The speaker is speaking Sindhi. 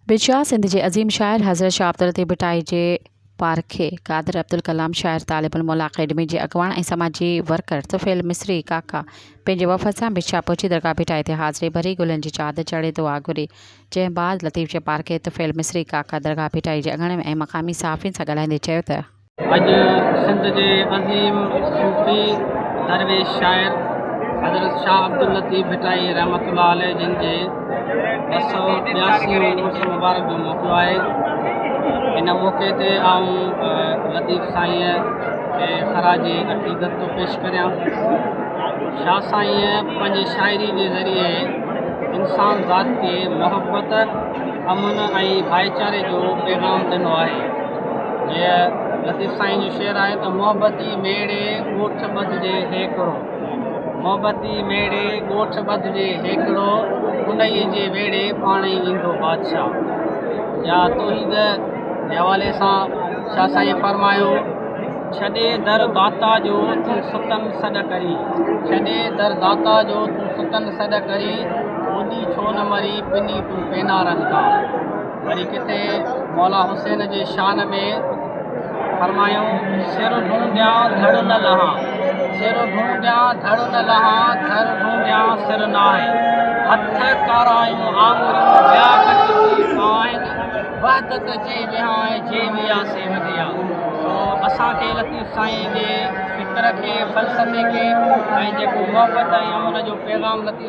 به شاهه سنڌ جي عظيم شاعر حضرت شاهه عبداللطيف ڀٽائي جي پارکي قادر عبدالڪلام شاعر طالب الموليٰ اڪيڊمي جي اڳواڻ ۽ سماجي ورڪر طفيل مصري ڪاڪا پنهنجي وفد سان به شاهه پهچي درگاهه ڀٽائي تي حاضري ڀري گلن جي چادر چڙهي دعا گهري جنهن بعد لطيف جي پارکي طفيل مصري ڪاڪا درگاهه ڀٽائي جي اڳڻ ۽ مقامي صحافين سان ڳالهائيندي چيو ته اڄ سنڌ جي عظيم صوفي درويش شاعر حضرت شاهه عبداللطيف ڀٽائي رحمت الله عليه جن جي ٻه سؤ ٻياسي عرس مبارڪ جو موقعو آهي ان موقعي تي آئون لطيف سائين کي خراج عقيدت ٿو پيش ڪريان شاهه سائين پنهنجي شاعري جي ذريعي انسان ذات کي محبت امن ۽ ڀائيچاري جو پيغام ڏنو آهي جيئن لطيف سائين جو شعر آهي ته محبتي ميڙي ڳوٺ ٻڌجي هيڪڙو محبتي ميڙي ڳوٺ ٻڌجي هيڪڙو انهيء جي ويڙهي پاڻ ئي ايندو بادشاهه يا توحيد جي حوالي سان شاهه سائين فرمايو ڇڏي در داتا جو تون ستن سڏ ڪرين ڇڏي در داتا جو تون ستن سڏ ڪرين ٻوڏي ڇو نه مرين پني تون پينارن کان وري ڪٿي مولا حسين جي شان ۾ فرمايو سر ڍونڍيان ڌڙ نه لهان سر ڍونڍيان ڌڙ نه لهان ٿر ڍونڍيان سر ناهي هٿ ڪارايون آڱريون ٻيا ڪٽجي آهن وحدت جي وهانء جي ويا سي وڌيا سو اسان کي لطيف سائين جي فڪر کي فلسفي کي ۽ جيڪو محبت ۽ امن جو پيغام لطيف